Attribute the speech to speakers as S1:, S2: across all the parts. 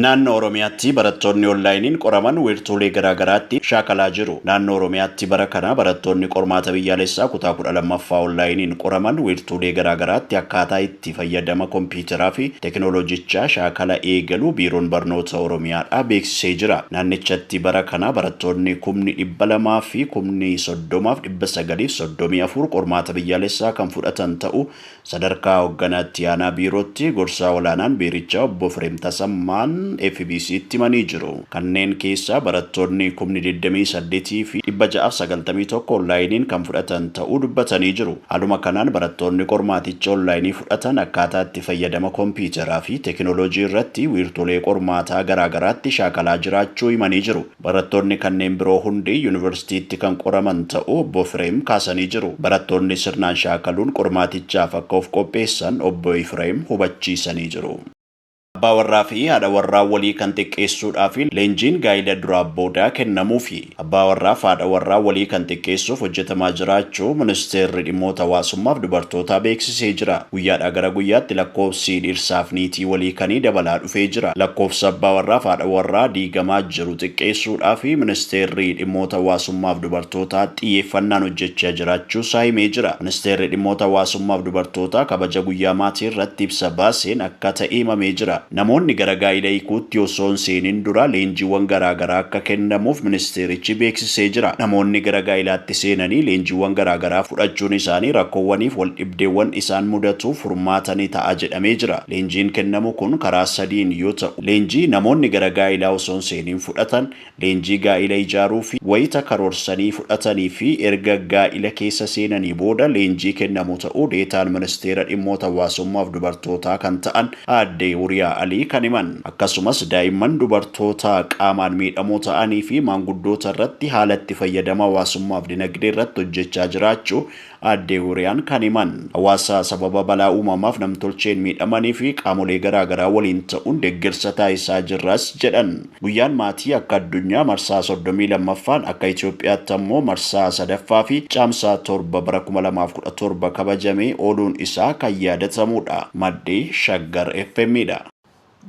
S1: Naannoo Oromiyaatti barattoonni onlaayiniin qoraman wiirtuulee garaa garaatti shaakalaa jiru. Naannoo Oromiyaatti bara kana barattoonni qormaata biyyaalessaa kutaa kudha lammaffaa onlaayiniin qoraman wiirtuulee garaa garaatti akkaataa itti fayyadama kompiiteraa fi tekinooloojichaa shaakala eegaluu Biiroon Barnoota Oromiyaadhaa beeksisee jira. Naannichatti bara kana barattoonni kumni dhibba lamaa fi kumni soddomaaf dhibba sagalii fi soddomii afur qormaata biyyaalessaa kan fudhatan ta'uu Sadarkaa Hogganaa Itti Aanaa Biirootti Gorsaa Olaanaan Biirichaa Obbo Efreem Tasammaan FBC'tti himanii jiru. Kanneen keessaa barattoonni kumni 28 fi 691 onlaayiniin kan fudhatan ta'uu dubbatanii jiru. Haaluma kanaan barattoonni qormaaticha onlaayinii fudhatan akkaataa itti fayyadama kompiitaraa fi tekinoloojii irratti wiirtulee qormaataa garaagaraatti shaakalaa jiraachuu himanii jiru. Barattoonni kanneen biroo hundi yunivarsiitiitti kan qoraman ta'uu Obbo Ifireem kaasanii jiru. Barattoonni sirnaan shaakaluun qormaatichaaf akka of qopheessan Obbo Ifireem hubachiisanii jiru. Abbaa warraa fi haadha warraa walii kan xiqqeessuudhaa fi leenjiin gaa'ila duraa boodaa kennamuufi. Abbaa warraa fi haadha warraa walii kan xiqqeessuuf hojjetamaa jira. jiraachuu Ministeerri Dhimmoota Hawaasummaaf Dubartootaa beeksisee jira. Guyyaadhaa gara guyyaatti lakkoofsi dhiirsaaf niitii walii kanii dabalaa dhufee jira. Lakkoofsa abbaa warraaf haadha warraa diigamaa jiru xiqqeessuudhaaf Ministeerri Dhimmoota Hawaasummaaf Dubartootaa xiyyeeffannaan hojjechaa jiraachuu isaa himee jira. Ministeerri Dhimmoota Hawaasummaaf Dubartootaa kabaja guyyaa maatii irratti ibsa baaseen akka ta'e himamee jira. Namoonni gara gaa'ila hiikuutti osoo hin seenin dura leenjiiwwan garaagaraa akka kennamuuf ministeerichi beeksisee jira. Namoonni gara gaa'ilaatti seenanii leenjiiwwan garaagaraa fudhachuun isaanii rakkoowwaniif waldhibdeewwan isaan mudatuuf furmaata ni ta'a jedhamee jira. Leenjiin kennamu kun karaa sadiin yoo ta'u. Leenjii namoonni gara gaa'ilaa osoo hin seenin fudhatan, Leenjii gaa'ila ijaaruuf wayita karoorsanii fudhatanii fi erga gaa'ila keessa seenanii booda leenjii kennamu ta'uu Deetaan Ministeera Dhimmoota Hawaasummaa fi Dubartootaa kan ta'an Aadde Huuriyaa Alii kan himan. Akkasumas daa'imman, dubartoota qaamaan miidhamoo ta'anii fi maanguddoota irratti haala itti fayyadama hawaasummaa fi dinagdee irratti hojjechaa jiraachuu Aadde Huuriyaan kan himan, hawaasa sababa balaa uumamaaf namtolcheen miidhamanii fi qaamolee garaa garaa waliin ta'uun deggersa taasisaa jirras jedhan. Guyyaan Maatii akka addunyaa marsaa 32ffaan, akka Itoophiyaatti ammoo marsaa 3ffaa fi Caamsaa 7 bara 2017 kabajamee ooluun isaa kan yaadatamuudha. Maddi, Shaggar FM dha.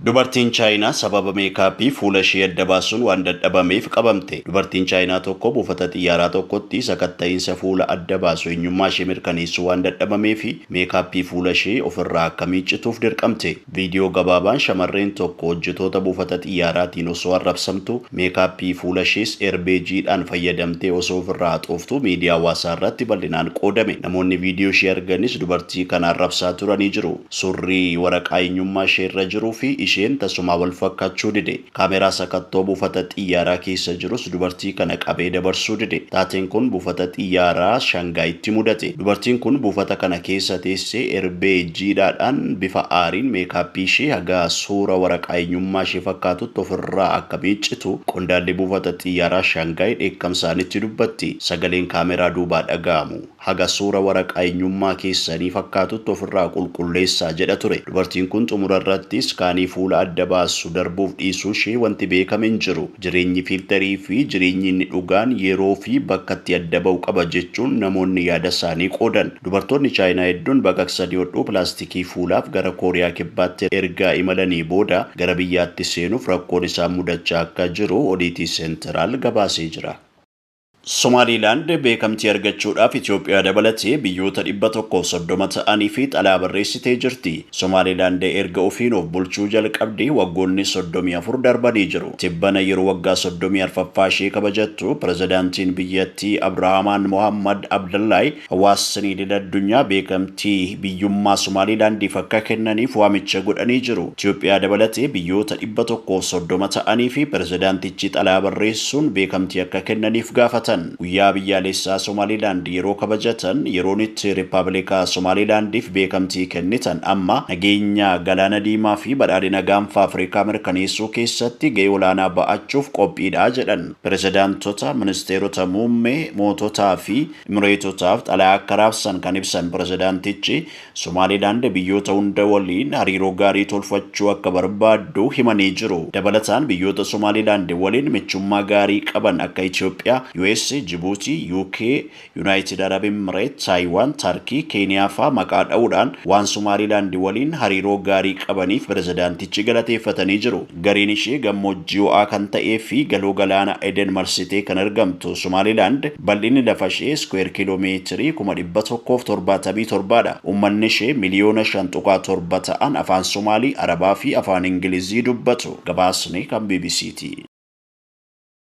S1: Dubartiin Chaayinaa sababa meekaappii fuula ishee adda baasuun waan dadhabameef qabamte. Dubartiin Chaayinaa tokko buufata xiyyaaraa tokkotti sakatta'iinsa fuula adda baasu eenyummaa ishee mirkaneessuu waan dadhabameef meekaappii fuula ishee of irraa akka miiccituuf dirqamte. Viidiyoo gabaabaan shamarreen tokko hojjetoota buufata xiyyaaraatiin osoo arrabsamtu, meekaappii fuula ishees eerbeejiidhaan fayyadamtee osoo of irraa haxooftuu miidiyaa hawaasaa irratti bal'inaan qoodame. Namoonni viidiyoo ishee arganis dubartii kana arrabsaa turanii jiru. Surrii waraqaa eenyummaa ishee irra jiruu fi isheen tasumaa wal fakkaachuu dide. Kaameeraa sakattoo buufata xiyyaaraa keessa jirus dubartii kana qabee dabarsuu dide. Taateen kun buufata xiyyaaraa Shangaayitti mudate. Dubartiin kun buufata kana keessa teessee erbee jiidhaadhaan bifa aariin meekaappii ishee haga suura waraqaa eenyummaa ishee fakkaatutti of irraa akka miiccitu qondaalli buufata xiyyaaraa Shangaay dheekkamsaanitti dubbatti. Sagaleen kaameeraa duubaa dhaga'amu. Haga suura waraqaa eenyummaa keessanii fakkaatutti ofirraa qulqulleessaa jedha ture. Dubartiin kun xumura irratti iskaanii fuula adda baasu darbuuf dhiisuu ishee wanti beekame hin jiru. Jireenyi fiilterii fi jireenyi inni dhugaan yeroo fi bakkatti adda ba'u qaba jechuun namoonni yaada isaanii qoodan. Dubartoonni Chaayinaa hedduun baqaqsanii hodhuu pilaastikii fuulaaf gara Kooriyaa Kibbaatti ergaa imalanii booda gara biyyaatti seenuuf rakkoon isaan mudachaa akka jiru Odiitii Seentiraal gabaasee jira. Somaaliilaand beekamtii argachuudhaaf Itoophiyaa dabalatee biyyoota 130 ta'aniifi xalaa barreessitee jirti. Somaaliilaand erga ofiin of bulchuu jalqabdee waggoonni 34 darbanii jiru. Tibbana yeroo waggaa 34ffaa ishee kabajattu pirezidaantiin biyyattii Abdurahaamaan Mohaammad Abdallaay Hawaasni idil addunyaa beekamtii biyyummaa Somaaliilaandiif akka kennaniif waamicha godhanii jiru. Itoophiyaa dabalatee biyyoota dhibba tokkoo fi soddoma ta'aniifi pirezidaantichi xalayaa barreessuun beekamtii akka kennaniif gaafatan. Guyyaa biyyaaleessaa Somaaliilaand yeroo kabajatan yeroon itti Rippabilika Somaaliilaandiif beekamtii kennitan amma, nageenya Galaana Diimaa fi badhaadhina Gaanfa Afrikaa mirkaneessuu keessatti ga'ee olaanaa ba'achuuf qophiidha jedhan. Pirezidaantota, ministeerota muummee, moototaa fi Imireetotaaf xalayaa akka raabsan kan ibsan pirezidaantichi, Somaaliilaand biyyoota hunda waliin hariiroo gaarii tolfachuu akka barbaaddu himanii jiru. Dabalataan biyyoota Somaaliilaand waliin michummaa gaarii qaban akka Itoophiyaa, US, Jibuutii, UK, Yunaayitid Arab Imireet, Taayiwaan, Tarkii, Keeniyaa faa maqaa dha'uudhaan waan Somaaliilaand waliin hariiroo gaarii qabaniif pirezidaantichi galateeffatanii jiru. Gariin ishee gammoojjii ho'aa kan ta'ee fi Galoo Galaana Eden marsitee kan argamtu Somaalilaand bal'inni lafashee iskuweer kiiloo meetirii kuma dhibba tokkoo fi torbaatamii torba dha. Ummannishee miliyoona shan tuqaa torba ta'an Afaan Somaalii, Arabaa fi Afaan Ingilizii dubbatu. Gabaasni kan bbc ti.